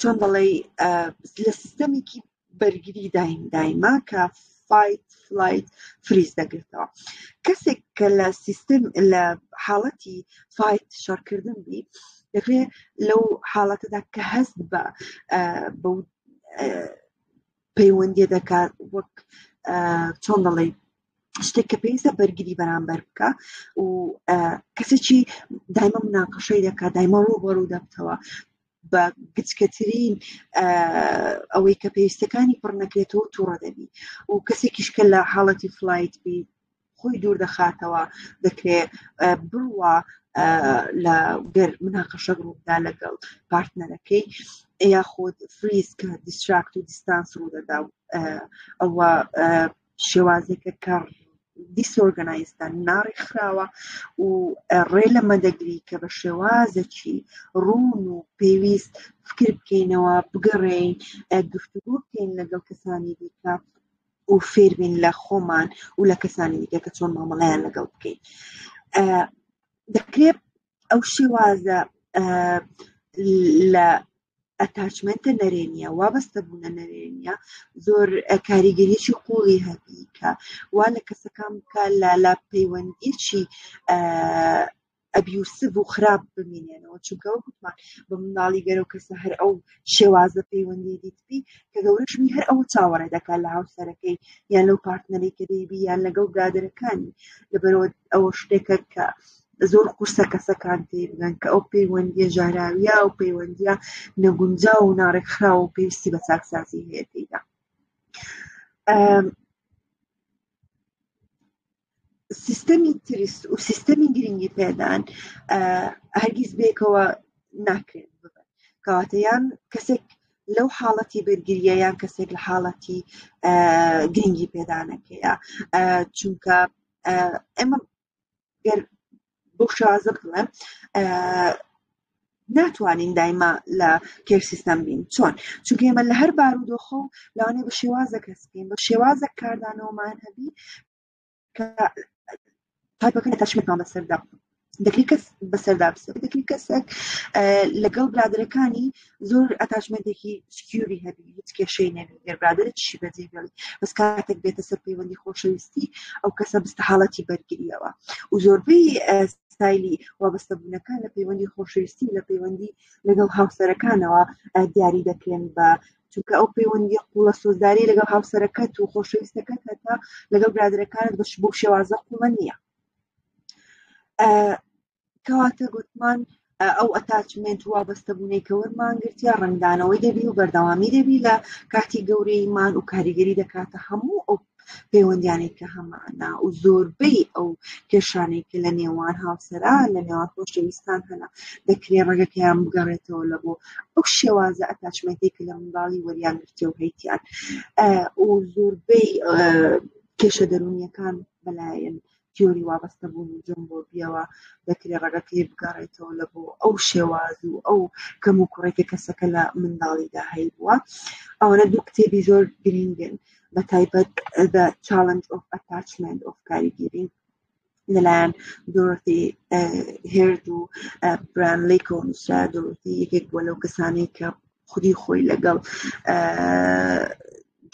چۆن بەڵی لە سیستەمێکی بەرگری دایم دایما کە فایت فلایت فریز دەگرتەوە کەسێک کە لە سیستم لە حاڵەتی فایت شەڕکردن بی دەکرێ لەو حاڵەتەدا کە هەست بە بە پەیوەندی دەکات وەک چۆن دەڵێ شتێک کە پێویستە بەرگری بەرامبەر بکە و کەسێکی دایمە مناقەشەی دەکا دایمە ڕوبەڕوو دەبتەوە بە گچکەترین ئەوەی کە پێویستەکانی پڕ نەکرێتەوە تووڕە دەبی و کەسێکیش کە لە حاڵەتی فلایت بی خۆی دوور دەخاتەوە دەکرێ بڕوا لە گەر مناقەشە ڕوودا لەگەڵ پارتنەرەکەی یاخود فریز کە دیستراکت و دیستانس ڕوو دەدا ئەوە شێوازێکە کە دیسۆرگەنایزدا ناڕێکخراوە و ڕێ لەمە دەگری کە بە شێوازەکی ڕوون و پێویست فکر بکەینەوە بگەڕێین گفتوگۆ بکەین لەگەڵ کەسانی دیکە و فێربین لە خۆمان و لە کەسانی دیکە کە چۆن مامەڵیان لەگەڵ بکەین دەکرێت ئەو شێوازە لە ئەتاچمنتە نەرێنیە وابەستە بوونە نەرێنە زۆر کاریگەریی قوڵی هەبی کە وا لە کەسەکان بکە لە لا پەیوەندیی ئەبیوسف و خراپ بمینێنەوە چونکە وەکوتمان بە مناڵی گەرە و کەسە هەر ئەو شێوازە پەیوەندی دیتبی کە گەورەشمی هەر ئەو چاوەڕێ دەکات لە هاوسەرەکەی یان لەو پارتنەری کە دەیبی یان لەگەڵ برادەرەکانی لەبەرەوە ئەوە شتێکە کە زۆر قورسە کەسەکان تێیبگەن کە ئەو پەیوەندیە ژاراویە و پەیوەندیە نەگونجا و ناڕێکخراو و پێویستی بە چاکسازی هەیە تێیدا سیستەمی تریست و سیستەمی گرنگی پێدان هەرگیز بێکەوە ناکرێت ببن کەواتەیان کەسێک لەو حاڵەتی بەرگریە یان کەسێک لە حاڵەتی گرنگی پێدانەکەیە چونکە ئەمە گەر بۆ شازە بڵێ ناتوانین دایما لە کێر سیستەم بین چۆن چونکە ئێمە لە هەر بارودۆخە و لەوانێ بە شێوازە کەس بین بە شێوازە کاردانەوەمان هەبی کە تایپەکە تەشمێکمان بەسەردا دەکری کەس بەسەردا بسە دەکری کەسێک لەگەڵ برادەکانی زۆر ئەتاچمەندێکی سکیوری هەبی هیچ کێشەی نەبی گەر برادرت شی بەجێ بێڵی بەس کاتێک بێتە سەر پەیوەندی خۆشەویستی ئەو کەسە بستە حاڵەتی بەرگریەوە و زۆربەی ستایلی وابەستە بوونەکان لە پەیوەندی خۆشەویستی و لە پەیوەندی لەگەڵ هاوسەرەکانەوە دیاری دەکرێن بە چونکە ئەو پەیوەندی قوڵە سۆزداری لەگەڵ هاوسەرەکەت و خۆشەویستەکەت هەتا لەگەڵ برادرەکانت بەش بۆ شێوازە قوڵە نییە کەواتە گوتمان ئەو ئەتاچمنت و وابەستەبوونەی کە وەرمان گرتیا ڕنگدانەوەی دەبی و بەردەوامی دەبی لە کاتی گەورەیمان و کاریگەری دەکاتە هەموو ئەو پەیوەندیانێک کە هەمانە و زۆربەی ئەو کێشانێک کە لە نێوان هاوسەرا لە نێوان خۆشەویستان هەنا دەکرێ ڕێگەکەیان بگەڕێتەوە لە بۆ ئەو شێوازە ئەتاچمنتی کە لە منداڵی وەریان گرتێ و هەیتیان و زۆربەی کێشە دەرونیەکان بەلایەن تیۆری وابەستە بوون و جۆمبۆبیەوە دەکرێت ڕەگەکەی بگەڕێتەوە لە بۆ ئەو شێواز و ئەو کەم و کوڕێکە کەسەکە لە منداڵیدا هەی بووە ئەوەنە دوو کتێبی زۆر گرنگن بە تایبەت بە چاالنج ئۆف ئەتاچمنت ئۆف کاریگیری لەلایەن دۆرتی هێرد و برانلیک و نووسرا دۆرتی یەکێک بووە لەو کەسانی کە خودی خۆی لەگەڵ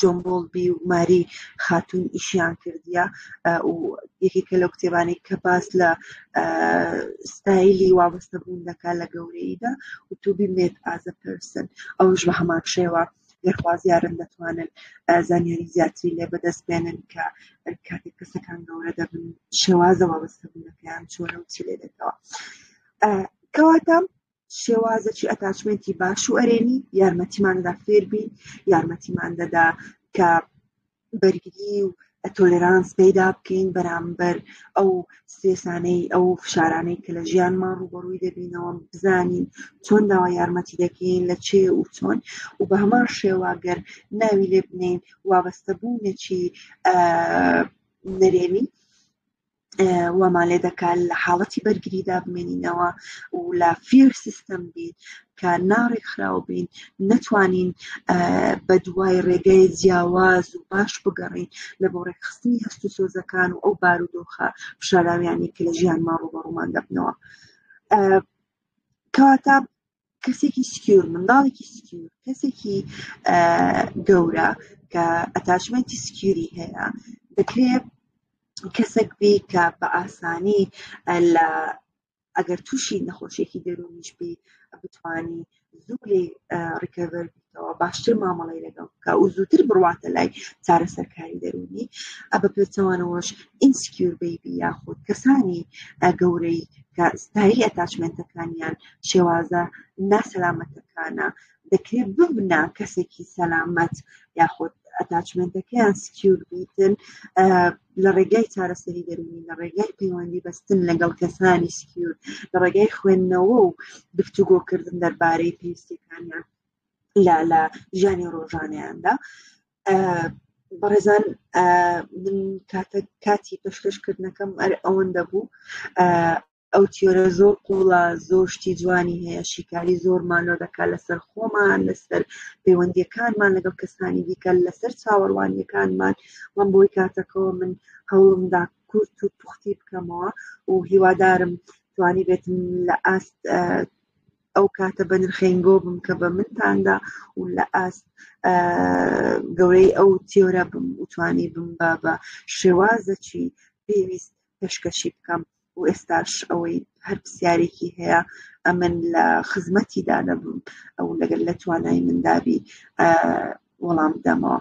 جۆن بۆڵبی و ماری خاتون ئیشیان کردیە و یەکێکە لەو کتێبانی کە باس لە ستایلی وابەستە بوون دەکا لە گەورەیدا و تو بمێت ئازە پرسن ئەوش بە هەمان شێوە گەرخوازیارن دەتوانن زانیاری زیاتری لێ بەدەست بێنن کە کاتێک کەسەکان گەورە دەبن شێوازە وابەستە بوونەکەیان چۆنە و چی لێ دەکەوە کەواتە شێوازەکی ئەتاچمنتی باش و ئەرێنی یارمەتیماندا فێربین یارمەتیمان دەدا کە بەرگری و تۆلرانس پەیدا بکەین بەرامبەر ئەو سێسانەی ئەو فشارانەی کە لە ژیانمان ڕوبەڕووی دەبینەوە بزانین چۆن داوا یارمەتی دەکەین لە چێ و چۆن و بە هەمان شێواگەر ناوی لێ بنین وابەستە بوونێکی نەرێنی وامان لێ دەکات لە حاڵەتی بەرگریدا بمێنینەوە و لە فێر سیستم بین کە ناڕێکخراو بین نەتوانین بە دوای ڕێگەی جیاواز و باش بگەڕین لە بۆ ڕێکخستنی هەست و سۆزەکان و ئەو بارودۆخە پیشاراویانی کە لە ژیان ماڕوو بە ڕوومان دەبنەوە کەواتە کەسێکی سکیور منداڵێکی سکیور کەسێکی گەورە کە ئەتاشمەتی سکیوری هەیە دەکرێت کەسێک بی کە بە ئاسانی لە ئەگەر تووشی نەخۆشیێکی دەروونیش بی بتانی زوو لێ ڕیکەڤەر باشتر مامەڵی لەگەڵ بکە و زووتر بڕواتە لای چارەسەرکاری دەرونی ئە بە پێچەوانەوەش ئینسکیور بیبی یاخود کەسانی گەورەی کە ستایلی ئەتاچمنتەکانیان شێوازە ناسەلامەتەکانە دەکرێت ببنا کەسێکی سەلامەت یاخود ئەتاچمنتەکەیان سکیور بیتن لە ڕێگای چارەسەری دەروونی لە ڕێگای پەیوەندی بەستن لەگەڵ کەسانی سکیور لە ڕێگای خوێندنەوە و گفتوگۆکردن دەربارەی پێویستەکانیان لە لە ژیانی ڕۆژانیاندا بەڕێزان من کاتە کاتی پێشکەشکردنەکەم ئەر ئەوەندە بوو ئەو تیۆرە زۆر قوڵە زۆر شتی جوانی هەیە شیکاری زۆرمان لۆ دەکات لەسەر خۆمان لەسەر پەیوەندیەکانمان لەگەڵ کەسانی دیکە لەسەر چاوەڕوانیەکانمان من بۆی کاتەکەەوە من هەوڵمدا کورت و پوختی بکەمەوە و هیوادارم توانی بێتم لە ئاست ئەو کاتە بە نرخەنگۆ بم کە بە منتاندا و لە ئاست گەورەی ئەو تیۆرە بم وتوانی بم بە بە شێوازەکی پێویست پێشکەشی بکەم و ئێستاش ئەوەی هەر پرسیارێکی هەیە ئەمن لە خزمەتی دادەبم ئەو لەگەر لە توانای مندابی وەڵام دەمەوە